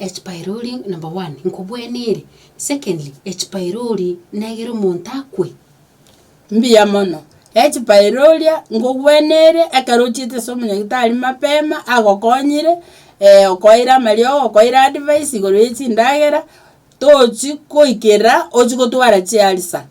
Echipyrori, number one, nkobwene ere, secondly, echipyrori negere omonto akwe. Mbuya mono. Echipairoria ngogwene ere ekero ochiete ase omonyagitari mapema agokonyire eh, okoeire amariogo okoeire advice igoro ye chindagera, tochi koikerera ochi gotwara chiarisa.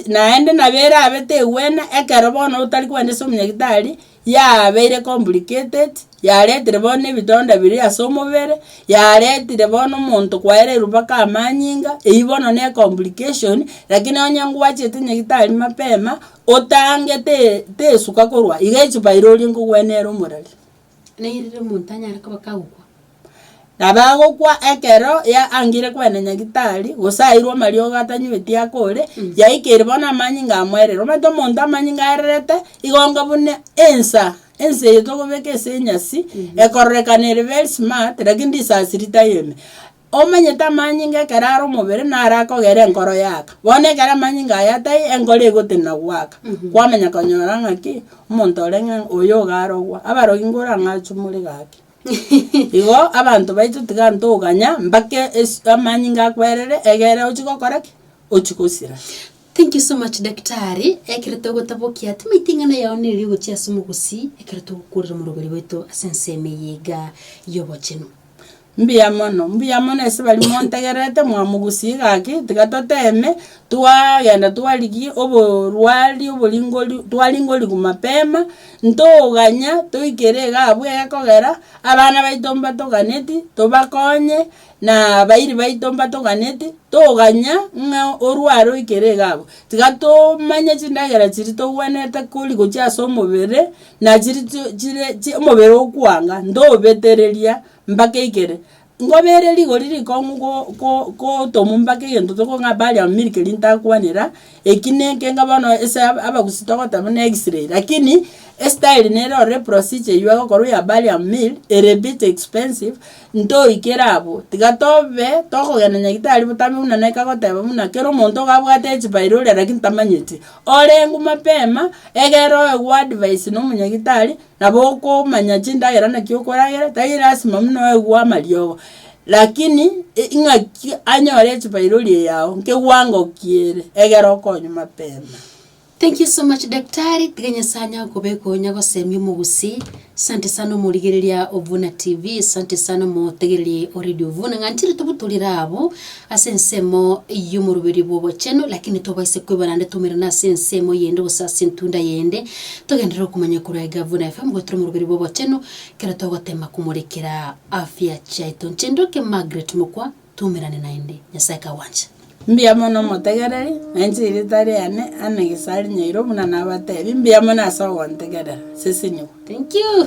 naende nabo erabe tegwena ekero bono otari kwenda ase omonyagitari, yabeire complicated, yaretire bono na ebitonda biria ase omobere, yaretire bono omonto kwaereirwe mpaka amanyinga, eywo bono ne complication, lakini onye ngwachete nyagitari mapema, otangete tesuka korwa iga echi pailoria nkogwena ere omorari. Nairire omonto anyare koba kagokwa. Nabo agokwa ekero ya angire kwenda nyagitari, gose airwe amariogo atanyweti akore, yaikeire bono amanyinga amoerire. Omanyete omonto amanyinga aererete, igonga buna ensa, ensa eye tokobeka ase enyasi, ekororekana ere very smart, lakini risasi ritayembe. Omanyete amanyinga ekero are omobere naro akogera enkoro yaaka. Bono ekero amanyinga aya atai, enkoro egotenena goaka. Kwamanya konyora ng'a ki? Omonto ore ng'a oyo iga arogwa. Abarogi ngoro ang'e achumure gaki. Igo abanto baito tiga ntoganya mpaka es- amanyinga akwerere egere ochie gokora ki? Ochie gosira. Thank you so much daktari, ekero togotabokia timaite eng'ana yao nere ogochia ase omogusii ekero togokworera omorogori bwaito ase ensemo eye iga yobochenu. Mbuya mono, mbuya mono ase baria montegerete, mwamogusie gaki, tiga toteme, twaaagenda twarigia oborwari oboringori twaringorigwa mapema, ntoganya, toikere iga abwo egekogera, abana baito mbatoganeti, tobakonye, na abairi baito mbatoganeti, toganya ng'a orware oikere iga abwo. Tiga tomanye chindagera chiria togwenerete kori gochia ase omobere, nachiri chire omobere okwanga, ntobetereria. Mbake igere. Ngoba ere rigori rikong'u go- go- gotomu mbake egento tokong'a baria milk rintakwanera, eki neke ng'a bono ase ab- abagusii togoteba buna x-ray, lakini estyle nere ororo procedure eywo agokorwa ya barium meal, ere bit expensive, ntoikere abwo. Tiga tobe, tokogenda nyagitari botambe buna neke agoteba buna kera omonto iga abwate echibairure lakini tamanyeti. Oreng'u mapema, egere oegwe advice na omonyagitari, Nabo okomanya chindagera naki okoragera, tari lasima buna oegwe amariogo, lakini i- ing'aki anyore echibairori eyao nkewango ki ere, egere okonywa mapema. Thank you so much daktari, tiga Nyasaye anyare kobeka onya gosemia omogusii, sante sana omorigereria Ovuna TV, sante sana omotegereri o Radio Ovuna, ng'a ntiri tobutorire abwo. ase ensemo y'omoroberio bw'obochenu, lakini tobaisa kwebara nde twaumerana ase ensemo yende gose ase entunda yende. Togenderere okomanya korwa Egavuna FM goetera omoroberio bw'obochenu kero togoteema komorekera afya chiaito. Inche ndoke Margaret mokwa, twaumerane naende. Nyasae kagwanche. Mbuya mono omotegereri, na inche erita riane Anne Gisari Nyairo buna nabateebie, mbuya mono ase ogontegerera. Seseniwa. Thank you.